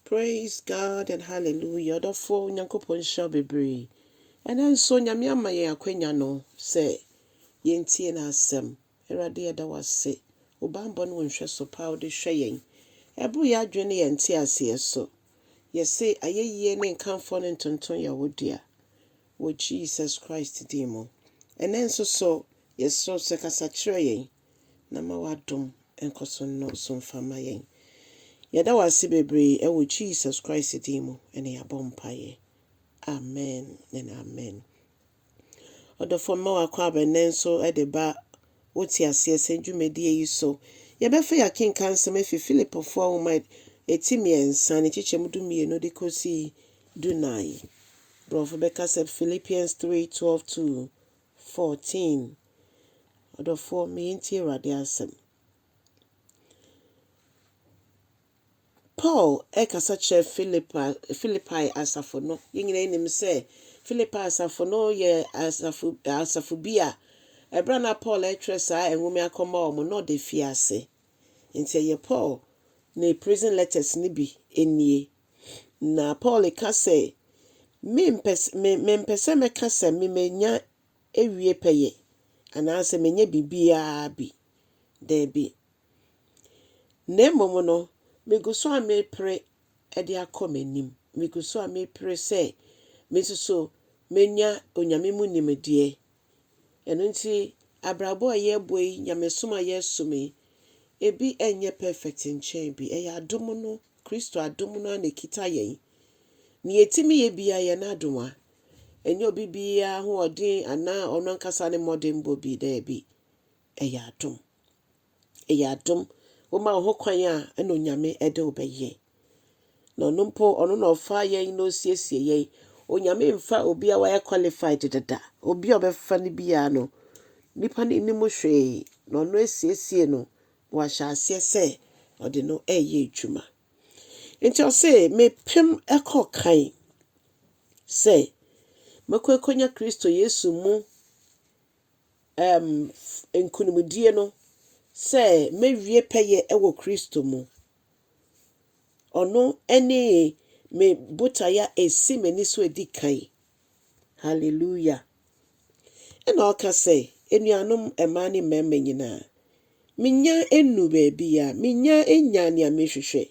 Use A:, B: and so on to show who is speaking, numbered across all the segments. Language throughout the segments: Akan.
A: Praise God and hallelujah ɔdɔfoɔ Nyankopɔn nhyira wo bebree ɛnɛ nso Nyame ama yɛn akwanya no sɛ yɛntie n'asɛm Awurade yɛda wo ase wo bammɔ ne wo nhwɛso pa a wode hwɛ yɛn ɛboro yɛn adwene ne yɛn nteaseɛ so yɛse ayɛyie ne nkamfoɔ ne ntonton yɛ wo dea wɔ Jesus Christ din mu ɛnɛ nso so yɛsrɛ wo sɛ kasa kyerɛ yɛn na ma w'adom nkɔ so nnɔɔso mfa mma yɛn. Yɛda wo ase bebree ɛwɔ Jesus Christ din mu ɛna yɛabɔ mpaeɛ. Amen and amen. Ɔdɔfoɔ mema w'akɔ aba nnɛ nso de ba wo te aseɛ sɛ dwumadie yi so. Yɛbɛfa yɛakenka nsɛm afi Filipofoɔ nwoma ɛti mmiɛnsa ne kyekyɛm du mmienu de kɔsi du nan. Borɔfo bɛka sɛ Philippians 3, 12 to 14, Ɔdɔfoɔ, me yɛntie Awurade asɛm. Paul rekasa kyerɛ Filipa, Filipae asafo no. Yɛn nyinaa nim sɛ Filipae asafo no yɛ asafo, asafo bi a ɛberɛ na Paul retwerɛ saa nwoma akɔma wɔn na ɔda fie ase. Nti ɛyɛ Paul ne prison letters no bi nie. Na Paul ka sɛ, Mempɛ sɛ, me, mempɛ sɛ mɛka sɛ me manya awie pɛyɛ, anaasɛ manya biribiara bi. Daabi. Na mmom no, megu so a mepere de akɔ m'anim. Megu so a mepere sɛ me nso so menya Onyame mu nimdeɛ Ɛno nti, abrabɔ a yɛrebɔ yi, nyamesom a yɛresom yi, ebi nyɛ perfect nkyɛn bi. Ɛyɛ adom no, Kristo adom no ara na ɛkita yɛn. Nea yɛtumi yɛ biara, ɛyɛ n'adomaa. Ɛnyɛ obi biara ahoɔden anaa ɔno ankasa ne mmɔdenbɔ bi, daabi. Ɛyɛ adom. Ɛyɛ adom. Woma wo ho kwan a, ɛna Onyame ɛde wo bɛyɛ. Na ɔno mpo, ɔno na ɔfaa yɛn na ɔsiesie yɛn. Onyame mfa obi a wayɛ qualified dada. Obi a ɔbɛfa no biara no, nipa no nnim hwee, na ɔno asiesie no, na wahyɛ aseɛ sɛ ɔde no ɛɛyɛ adwuma. Nti ɔse, mepem ɛkɔ kan sɛ mɛkɔ ɛkɔnya Kristo Yesu mu nkonimdie no sɛ mɛwie pɛyɛ wɔ Kristo mu. Ɔno ne me botaeɛ a ɛsi m'ani so ɛdi kan. Hallelujah. Ɛna ɔka sɛ, anuanom mmaa ne mmarima nyinaa, menya nnu baabi a, menya nya nea mehwehwɛ,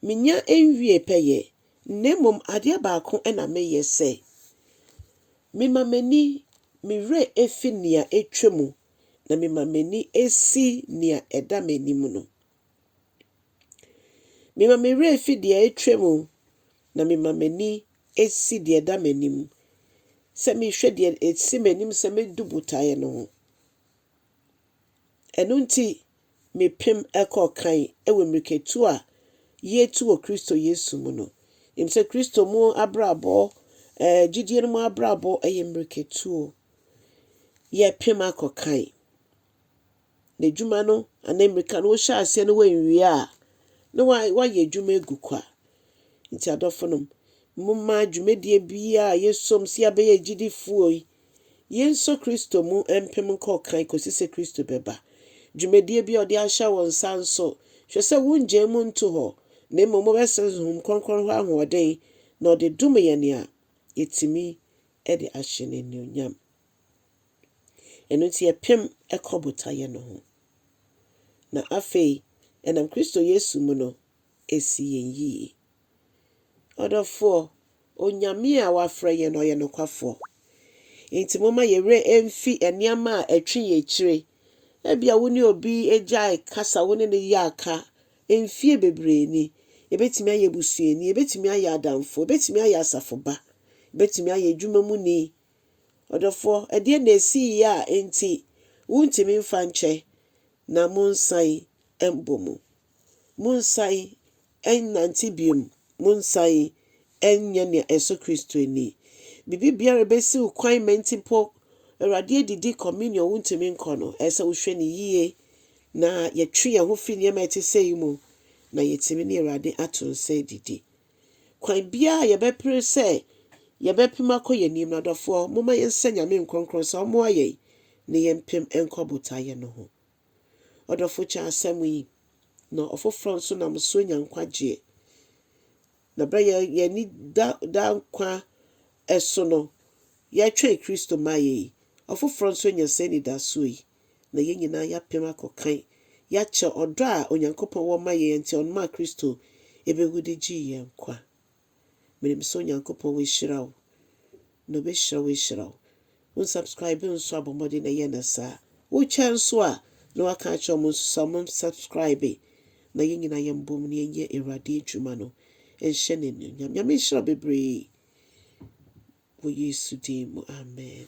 A: menya nwie pɛyɛ, Na mmom adeɛ baako na meyɛ, sɛ, mema m'ani, me werɛ fi nea atwa mu, na mema m'ani si nea ɛda m'anim no. Mema me werɛ fi deɛ atwa mu, na mema m'ani si deɛ ɛda m'anim, sɛ mehwɛ deɛ ɛsi m'anim sɛ mɛdu botaeɛ no ho. Ɛno nti, mepem kɔɔ kan wɔ mmirikatu a yetu wɔ Kristo Yesu mu no. Nim sɛ Kristo mu abrabɔ, ɛɛ, gyidie no mu abrabɔ yɛ mmirikatuo. Yɛpem akɔ kan. N'adwuma no, anaa mmirika no, wohyɛ aseɛ no wɔnwie a, na woayɛ adwuma agu kwa. Nti adɔfonom, momma dwumadie biara a yɛsom sɛ yɛabɛyɛ agyidifoɔ yi, Yensɔ Kristo mu mpem nkɔ kan kosi sɛ Kristo bɛba. Dwumadie bi a ɔde ahyɛ wo nsa nso, hwɛ sɛ wongyae mu nto hɔ, na mmom wobɛsrɛ Honhom Kronkron hɔ ahoɔden na ɔde dom yɛn a, yɛtumi de ahyɛ no anuonyam. Ɛno nti yɛpem kɔ botaeɛ no ho. Na afei, ɛnam Kristo Yesu mu no, ɛsi yɛn yie. Ɔdɔfoɔ, Onyame a wafrɛ yɛn no, ɔyɛ nokwafoɔ. Enti momma yɛn werɛ mfi nneɛma a ɛtwe yɛn akyire. Ebia wo ne obi agyae kasa, wo ne no yɛ aka mfeɛ bebree ni. Yɛbɛtumi ayɛ abusuani, yɛbɛtumi ayɛ adamfo, yɛbɛtumi ayɛ asafo ba, yɛbɛtumi ayɛ adwuma mu ni. Ɔdɔfoɔ, ɛdeɛn na ɛsiiɛ a enti wontumi mfa nkyɛ na monsan mmɔ mu. Monsan nnante bio, monsan nyɛ nea ɛsɔ Kristo ani. Biribi biara a ebesi wo kwan ma nti mpo Awurade adidi Communion wuntumi nkɔ no, ɛsɛ sɛ wohwɛ no yiye na yɛtwe yɛn ho fi nneɛma a ɛte sɛɛ mu na yɛatumi ne Awurade ato nsa adidi. Kwan biara a yɛbɛpere sɛ yɛbɛpem akɔ yɛn anim no, adɔfoɔ, momma yɛnsrɛ Nyame nkorɔnkorɔn sɛ ɔmmoa yɛn ne yɛmpem nkɔ botaeɛ no ho. Ɔdɔfo kyɛ asɛm yi, na ɔfoforɔ nso nam so nya nkwagyeɛ. Na berɛ a yɛn ani da daa nkwa so no, yɛtwɛn Kristo mmaeɛ yi, ɔfoforɔ nso anya saa anidasoɔ yi. na yɛn nyinaa yɛapem akɔ kan. Yɛakyɛ ɔdɔ a Onyankopɔn wɔ ma yɛn a enti ɔnomaa Kristo bewu de gyee yɛn nkwa. Menim sɛ Onyankopɔn wahyira wo, na ɔbɛhyira wo ahyira wo. Wo nsubscribe nso a bɔ mmɔden na yɛ no saa. Wotwa nso a na woaka akyerɛ wɔn nso sɛ wɔn nsubscribe na yɛn nyinaa yɛn bom na yɛnyɛ Awurade adwuma no nhyɛ no anuonyam. Nyame nhyira wo bebree wɔ Yesu din mu, amen.